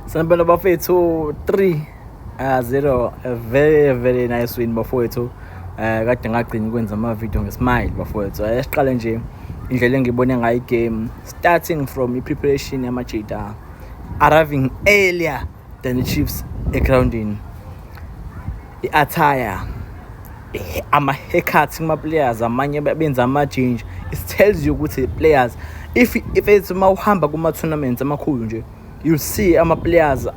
Sanibona bafethu 3 uh, 0 a very very nice win bafowethu uh, kade ngagcina ukwenza ama-video ngesmile bafowethu uh, siqale nje indlela engibone ngayo igame starting from i-preparation yamajita arriving earlier than the chiefs egroundini i-attire ama-haircut kuma-players amanye benza amajinja it tells you ukuthi players if if it's uma uhamba kuma-tournaments amakhulu nje you see ama-players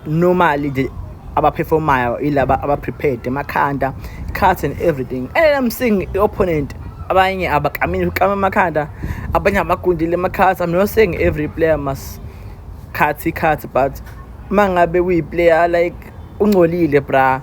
normally nje abaperformayo ilaba abaprepared emakhanda cut and everything and i'm seeing i-opponent abanye abakamile ukama amakhanda abanye abagundile amakhathi i'm not saying every player must cut i-cut but uma ngabe uyi-player like ungcolile bra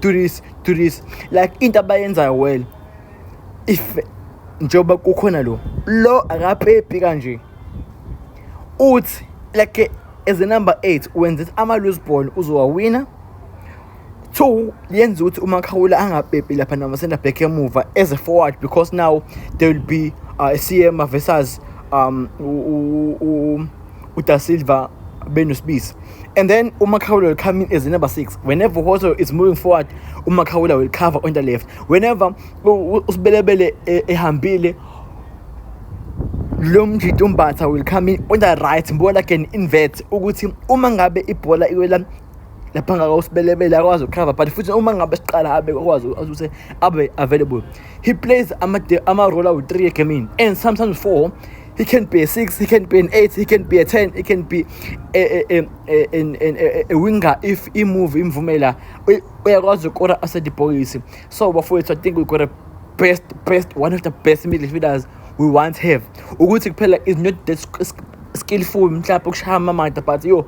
do this do this like into abayenzayo well if njengoba kukhona lo lo akaphephi kanje uthi like as a number 8 wenza ama loose ball uzowawina two yenza ukuthi umakhawula angapepi lapha nama center back emuva as a forward because now there will be uh, CM versus um u, u, u, uDa Silva benosibisi and then uMakhaula will come in as number 6 whenever Hoto is moving forward uMakhaula will cover on the left whenever usibelebele e, ehambile lo mjito umbatha will come in on the right mbona can invert ukuthi uma ngabe ibhola iwela lapha ngaka usibelebele akwazi ukukhava but futhi uma ngabe siqala abe akwazi ukuthi abe available he plays ama-role awu-three egamini and sometimes four he can be a six, he can be an eight, he can be a ten, he can be a, a, a, a, a winger if he move him from imvumela uyakwazi ukora asedibhokisi so bafowethu i think we got a best best one of the best midfielders we once have ukuthi kuphela is not that skillful mhlawumbe ukushaya amamada but yo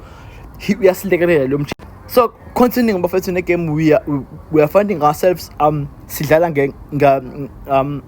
uyasilekelela lo mjini so continuing bafethu negame we are, we are finding ourselves um sidlala nge um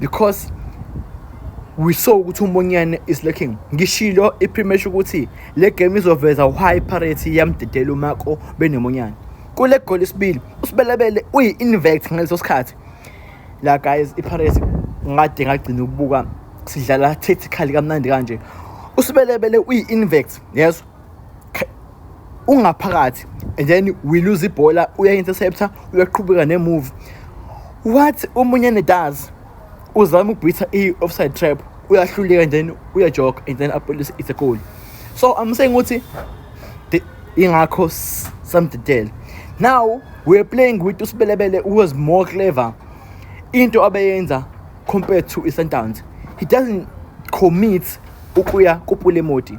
because we saw ukuthi uMonyane is looking ngishilo ipremesha ukuthi le game izoveza why Pirates yamdedela uMako benomonyane kule goal isibili usibelebele uyi invect ngaleso sikhathi la guys iPirates ngade ngagcina ukubuka sidlala tactically kamnandi kanje usibelebele uyi invect yes ungaphakathi and then we lose ibhola uya-interceptor uyaqhubeka ne-move what omunye nedoes uzama ukubhitha i-offside trap uyahluleka and then uyajoga and then apolice it's a goal so i'm saying ukuthi ingakho samdidele now we're playing with usibelebele who was more clever into abeyenza compared to i-sundowns he doesn't commit ukuya kupulemoti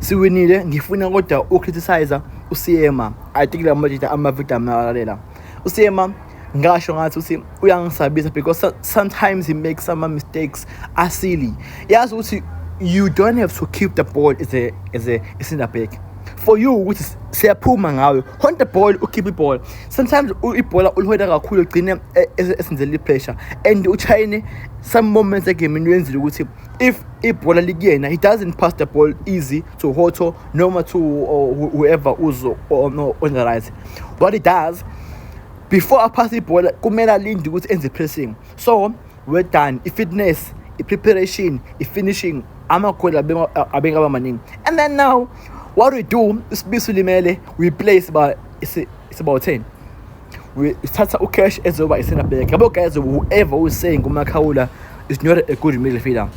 siwinile ngifuna kodwa ucriticize usiema i think la majita amavidiyo amalalela usiema ngasho ngathi uthi uyangisabisa because sometimes he makes some mistakes are silly yazi ukuthi you don't have to keep the ball as a as a center back for you ukuthi siyaphuma ngawe hold the ball ukhiphe ibhola sometimes ibhola ulihoda kakhulu ugcine e, e, esenzela i-pressure and uchayine some moments egemini wenzile ukuthi if ibhola likuyena he doesn't pass the ball easy to hoto noma to uh, whoever uzo or no on the right what he does before aphase ibhola kumele alinde ukuthi enze pressing so we're done i-fitness i-preparation i-finishing amagoli abengaba maningi and then now what we do isibiso limele we play siba siba-10 sithatha ucash ezoba i-center back yabo guys whoever who's saying umakhawula is not a good midfielder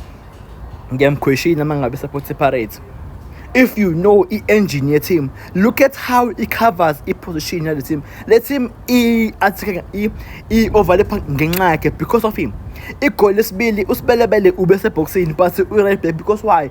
ngiyamkhweshini uma ngabe support separate if you know i-engine ye-team look at how it covers i-position yale team le team i-overlapha ngenxa yakhe because of him igoli lesibili usibelebele ube sebhokisini but u-right back because why